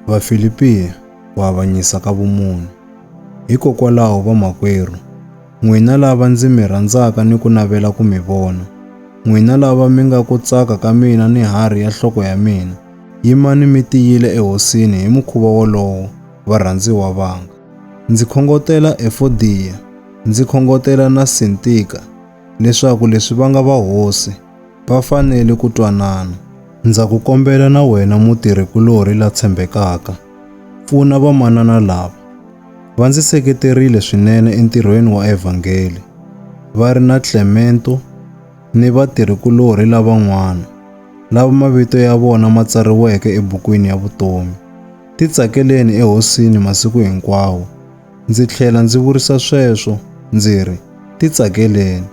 Vafilipi ku avanyisa ka vumunhu. Hikokwalaho vamakwerhu, n'wina lava ndzi mi rhandzaka ni ku navela ku mi vona, n'wina lava mi nga ku tsaka ka mina ni harhi ya nhloko ya mina, yimani mi tiyile eHosini hi mukhuva wolowo, varhandziwa vanga. Ndzi khongotela Efodiya, ndzi khongotela na Sintika, leswaku leswi va nga va hosi, va fanele ku twanana. Ndza ku kombela na wena mutirhikulorhi la tshembekaka, pfuna vamanana lava. Va ndzi seketerile swinene entirhweni wa evhangeli, va ri na Clemento ni vatirhikulorhi lavan'wana lava mavito ya vona ma tsariweke ebukwini ya vutomi. Titsakeleni eHosini masiku hinkwawo. Ndzi tlhela ndzi vurisa sweswo ndzi ri, Titsakeleni.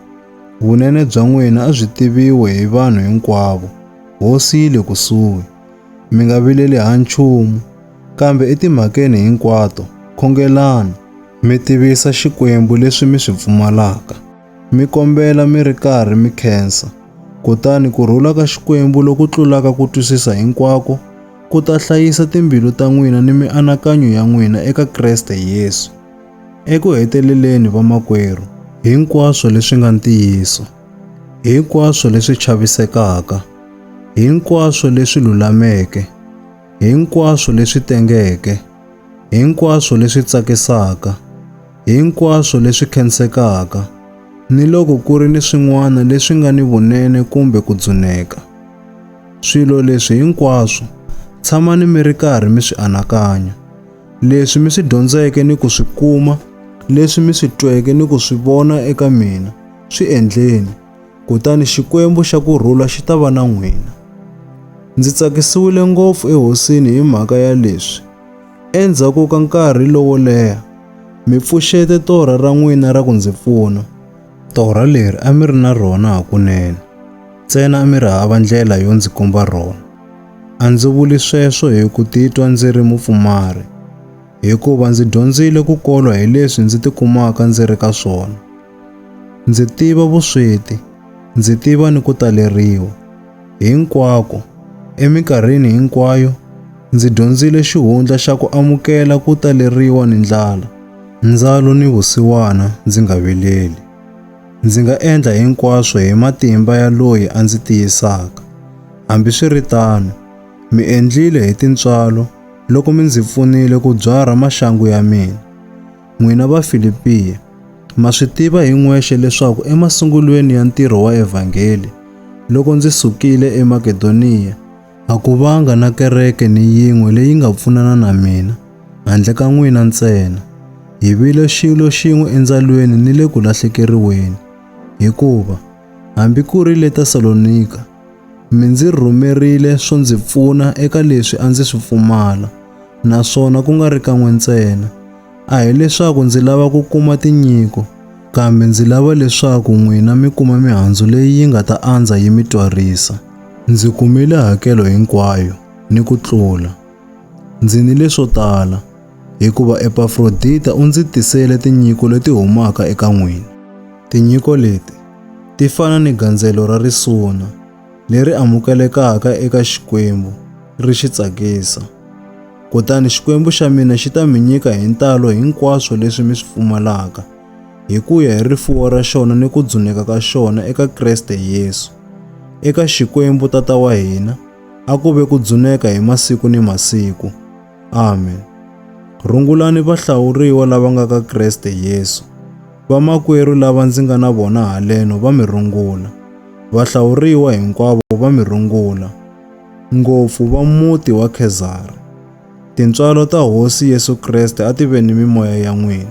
Vunene bya n'wina a byi tiviwe hi vanhu hinkwavo. Hosi yi le kusuhi. Mi nga vileli ha nchumu, kambe etimhakeni hinkwato khongelani, mi tivisa Xikwembu leswi mi swi pfumalaka, mi kombela mi ri karhi mi khensa, kutani ku rhula ka Xikwembu loku tlulaka ku twisisa hinkwako ku ta hlayisa timbilu ta n'wina ni mianakanyo ya n'wina eka Kreste Yesu. Eku heteleleni vamakwerhu, hinkwaswo leswi nga ntiyiso, hinkwaswo leswi chavisekaka, hinkwaswo leswi lulameke, hinkwaswo leswi tengeke, hinkwaswo leswi tsakisaka, hinkwaswo leswi khensekaka, ni loko ku ri ni swin'wana leswi nga ni vunene kumbe ku dzuneka, swilo leswi hinkwaswo tshamani mi ri karhi mi swi anakanya. leswi mi swi dyondzeke ni ku swi kuma, leswi mi swi tweke ni ku swi vona eka mina, swi endleni, kutani Xikwembu xa ku rhula xi ta va na n'wina. Ndzi tsakisiwile ngopfu eHosini hi mhaka ya leswi. Endzhaku ka nkarhi lowo leha, mi pfuxete torha ra n'wina ra ku ndzi pfuna. Torha leri a mi ri na rona hakunene, ntsena a mi ri hava ndlela yo ndzi komba rona. A ndzi vuli sweswo hi ku titwa ndzi ri mupfumari, hikuva ndzi dyondzile ku kolwa hi leswi ndzi tikumaka ndzi ri ka swona. Ndzi tiva vusweti, ndzi tiva ni ku taleriwa. Hinkwako, eminkarhini hinkwayo, ndzi dyondzile xihundla xa ku amukela ku taleriwa ni ndlala, ndzalo ni vusiwana ndzi nga vileli. Ndzi nga endla hinkwaswo hi matimba ya loyi a ndzi tiyisaka. Hambi swi ri tano, mi endlile hi tintswalo loko mi ndzi pfunile ku byarha maxangu ya mina. N'wina Vafilipiya, ma swi tiva hi n'wexe leswaku emasungulweni ya ntirho wa evhangeli, loko ndzi sukile eMakedoniya, a ku vanga na kereke ni yin'we leyi nga pfunana na mina, handle ka n'wina ntsena. Hi vile xilo xin'we endzalweni ni le ku lahlekeriweni. Hikuva, hambi ku ri le Tesalonika, Mi ndzi rhumerile swo ndzi pfuna eka leswi a ndzi swi pfumala, naswona ku nga ri kan'we ntsena. A hi leswaku ndzi lava ku kuma tinyiko, kambe ndzi lava leswaku n'wina mi kuma mihandzu leyi yi nga ta andza yi mi twarisa. Ndzi kumile hakelo hinkwayo, ni ku tlula. Ndzi ni leswo tala, hikuva Epafrodita u ndzi tisele tinyiko leti humaka eka n'wina. Tinyiko leti ti fana ni gandzelo ra risuna leri amukelekaka eka Xikwembu ri xi tsakisa. Kutani Xikwembu xa mina xi ta mi nyika hi ntalo hinkwaswo leswi mi swi pfumalaka, hi ku ya hi rifuwo ra xona ni ku dzuneka ka xona eka Kreste Yesu. Eka Xikwembu Tata wa hina, A ku ve ku dzuneka hi masiku ni masiku. Amen. Rungulani vahlawuriwa lava nga ka Kreste Yesu. Vamakwerhu lava ndzi nga na vona haleno va mi rungula. Vahlawuriwa hinkwavo va mi rungula, ngopfu va muti wa Khezari. Tintswalo ta Hosi Yesu Kreste a ti ve ni mimoya ya n'wina.